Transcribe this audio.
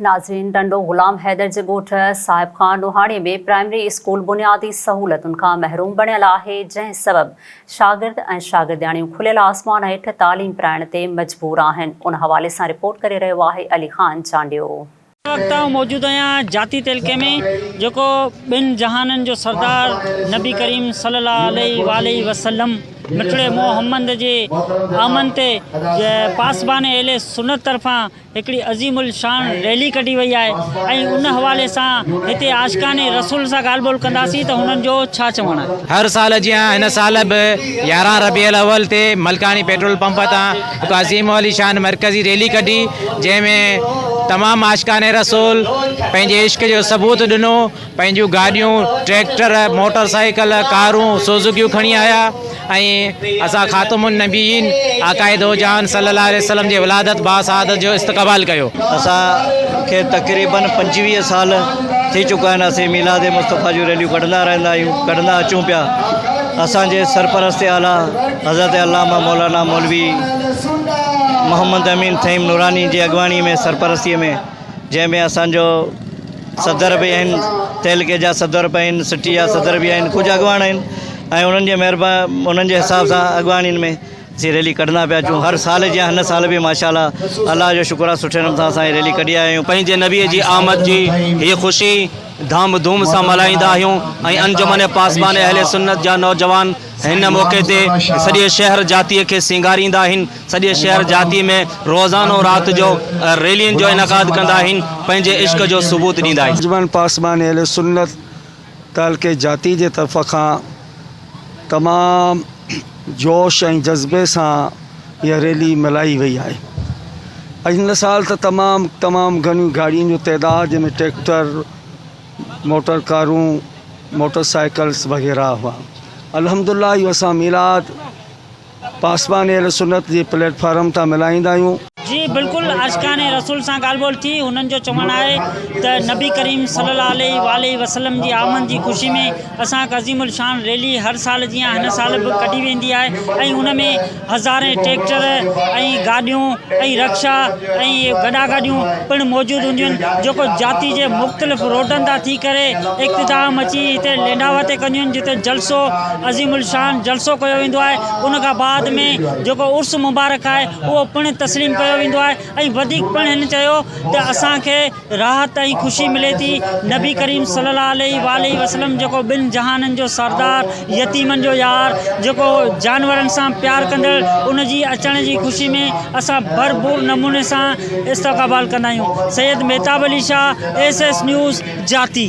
ناظرين ٽنڊو غلام حيدر جي ڳوٺ صاحب خان نوحاڻي ۾ پرائمري اسڪول بنيادي سهولتن کان محروم بڻيل آهي جنهن سبب شاگرد ۽ شاگردياڻيون کليل آسمان هيٺ تعليم پرائڻ تي مجبور آهن ان حوالي سان رپورٽ ڪري رهيو آهي علي خان چانڊيو. هن وقت آئون موجود آهيان جاتي تعلقي ۾ جيڪو ٻن جهانن جو سردار نبي ڪريم صلي الله عليه واٰله وسلم مٺڙي مو حمد جي آمنت پاسبان اهل سنت طرفان هڪڙي عظيم الشان ريلي ڪڍي وئي آهي ۽ ان حوالي سان هتي عاشقان رسول سان ڳالهه ٻولهه ڪنداسين ته هنن جو ڇا چوڻ آهي. هر سال جيان هن سال به يارهن ربيع الاول تي ملڪاڻي پيٽرول پمپ تان هڪ عظيم الشان مرڪزي ريلي ڪڍي جنهن ۾ تمام عاشقان رسول پنهنجي عشق جو ثبوت ڏنو پنهنجيون گاڏيون، ٽريڪٽر، موٽر سائيڪل، ڪارون، سوزوڪيون کڻي آيا ۽ اسان خاتم النبيين آقاء دوجهان صلي الله عليه وسلم جي ولادت با سعادت جو استقبال ڪيو. اسان کي تقريباً پنجويهه سال ٿي چڪا آهن اسين ميلاد مصطفيٰ جون ريليون ڪڍندا رهندا آهيون، ڪڍندا اچون پيا. اسان جي سرپرست اعليٰ حضرت علامه مولانا مولوي محمد امين فهيم نوراني جي اڳواڻي ۾ سرپرستي ۾. جنهن ۾ اسان جو صدر به آهن تعلقي جا صدر به آهن سٽي جا صدر به آهن ڪجهه اڳواڻ آهن ۽ انهن جي مهربا انهن جي حساب سان اڳواڻين ۾ اسين ريلي ڪڍندا پيا اچون هر سال جيان هن سال به ماشاء الله الله جو شڪر آهي سٺي نمون سان اسان هي ريلي ڪڍي آيا آهيون پنهنجي نبي جي آمد جي هي خوشي ڌام ڌوم سان ملهائيندا آهيون ۽ انجمن پاسبان اهل سنت جا نوجوان هن موقعي تي سڄي شهر جاتيء کي سينگاريندا آهن، سڄي شهر جاتيء ۾ روزانو رات جو ريلين جو انعقاد ڪندا آهن، پنهنجي عشق جو ثبوت ڏيندا آهن. انجمن پاسبان اهلسنت تعلقي جاتي جي طرف کان تمام جوش ۽ جذبي سان اها ريلي ملهائي وئي آهي ۽ هن سال ته تمام تمام گهڻيون گاڏين جو تعداد جنهن ۾ ٽريڪٽر، موٽر ڪارون موٽر سائيڪلس وغيره هئا الحمدالله اهو اسان ميلاد پاسبان اهل سنت جي پليٽ فارم تان ملهائيندا آهيون. جي بلڪل عاشقان رسول سان ڳالهه ٻولهه ٿي هنن جو چوڻ آهي ته نبي ڪريم صلي الله عليه واٰله وسلم جي آمد جي خوشي ۾ اسان هڪ عظيم الشان ريلي هر سال جيان هن سال به ڪڍي ويندي آهي ۽ ان ۾ هزارين ٽريڪٽر ۽ گاڏيون ۽ رڪشا ۽ گڏا گاڏيون پڻ موجود هونديون آهن جيڪو جاتي جي مختلف روڊن تان ٿي ڪري اختتام اچي هتي لينڊاوا تي ڪنديون آهن جتي جلسو عظيم الشان جلسو ڪيو ويندو آهي ان کان بعد ۾ جيڪو عرس مبارڪ آهي اهو پڻ تسليم ڪيو ويندو آهي ۽ وڌيڪ پڻ هن چيو ته اسان کي راحت ۽ خوشي ملي ٿي. نبي ڪريم صلي الله عليه واٰله وسلم جيڪو ٻن جهانن جو سردار، يتيمن جو يار، جيڪو جانورن سان پيار ڪندڙ ان جي اچڻ جي خوشي ۾ اسان ڀرپور نموني سان استقبال ڪندا آهيون. Syed Mahtab Ali Shah, S S news, جاتي.